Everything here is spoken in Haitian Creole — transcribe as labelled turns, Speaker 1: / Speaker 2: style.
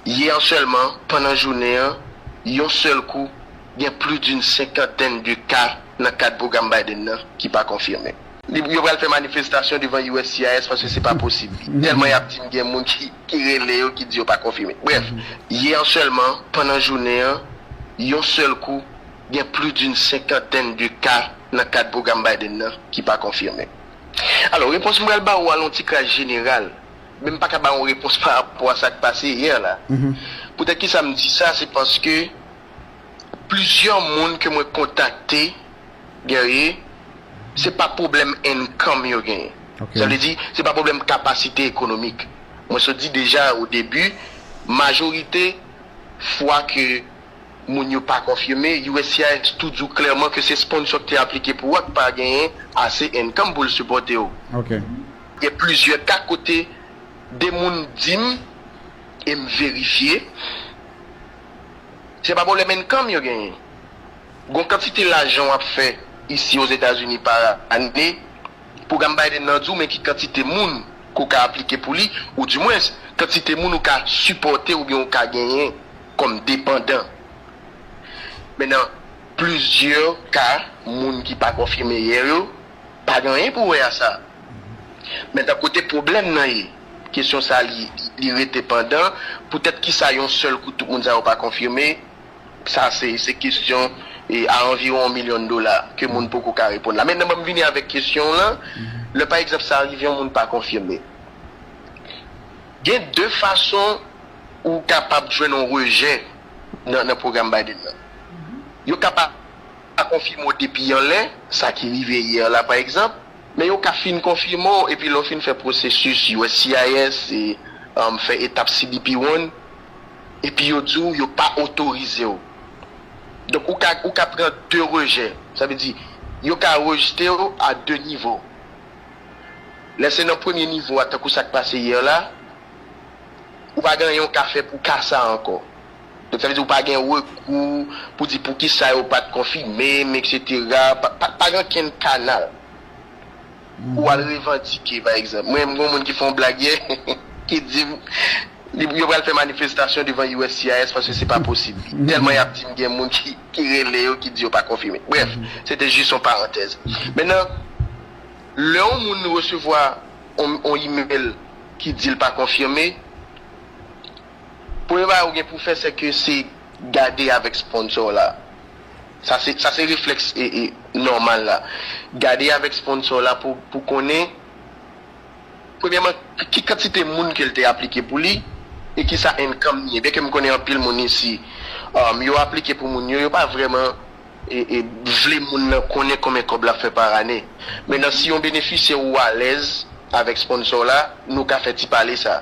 Speaker 1: Yè sèlman, pandan jounen an, yon sèl kou, gen plis d'une senkantèn de ka nan kad pwogram Biden nan ki pa konfime. Li, yo pral fè manifestasyon devan uscis paske se pa posib. Tèlman y ap di n gen moun ki rele yo ki di yo pa konfime. Brèf, yè sèlman, pandan jounen an, yon sèl kou, gen plis d'une senkantèn de ka nan kad pwogram Biden nan ki pa konfime. Alò, repons m pral ba ou a lon ti kras jeneral men m pa ka bay yon repons pa rapò a sa k pase yè la. Poutèt ki sa m di sa, se paske plizyè moun ke mwen kontakte, Guerrier, se pa pwoblèm income yo genyen. Sa vle di, se pa pwoblèm kapasite ekonomik. Mwen sot di deja o debi, majorite fwa ke moun yo pa konfime, uscis tou di w klèman ke se sponsò k te aplike pou ou a k pa genyen ase income pou l sipòte w. Gen plizyè ka kote 2 moun di m e m verifye, se pa pwoblèm income yo genyen. Gon kantite lajan w ap fè isi Ozetazini pa ane, pwogram Biden nan di w men ki kantite moun ke w ka aplike pou li, ou di mwens, kantite moun ou ka sipòte oubyen ou ka genyen kòm depandan. Men nan plizyè ka, moun ki pa konfime yè yo, Pa gen anyen pou wè a sa. Men tan kote pwoblèm nan ye, kesyon sa li li rete pandan, poutèt kisa yon sèl kou tout moun sa yo pa konfime, sa se se kesyon e a anviwon yon milyon dola ke moun poko ka reponn la. Mentnan ban m vini avèk kesyon w lan, lè pa egzanp sa rive yon moun pa konfime, gen de fason ou kapab jwenn yon rejè nan nan pwogram Biden nan. Yo ka pa pa konfime w depi yon lè, sa ki rive yè la pa egzanp, men yo ka fin konfime w epi lè w fin fè pwosesis uscis e fè etap cbp one epi yo di w yo pa otorize w. Donk ou ka ou ka pran de rejè, sa vle di yo ka rejte w a de nivo. Lè se nan premye nivo a tankou sa k pase yè la, ou pa gen anyen w ka fè pou ka sa ankò. Donk sa vle di ou pa gen rekou pou di poukisa yo pat konfime m eksetera, pa gen okenn kanal pou al revandike pa egzanp mwen menm gen yon moun ki fè yon blag yè ki di m yo pral fè manifestasyon devan uscis paske se pa posib li tèlman yap di m gen moun ki rele yo ki di yo pa konfime brèf se te jis yon parantèz men nan lè yon moun resevwa yon email ki di l pa konfime. Premye bagay ou gen pou fè se ke se gade avèk sponsor w la. Sa se sa se reflex nòmal la. Gade avèk sponsor w la pou pou konnen premyèman ki kantite moun ke l te aplike pou li e ki sa income li ye. Byen ke m konnen anpil moun isi yo aplike pou moun yo, yo pa vrèman vle moun nan konnen konbyen kòb l ap fè par ane. Mennan si yon benefisyè ou alèz avèk sponsor w la, nou ka fè ti pale sa.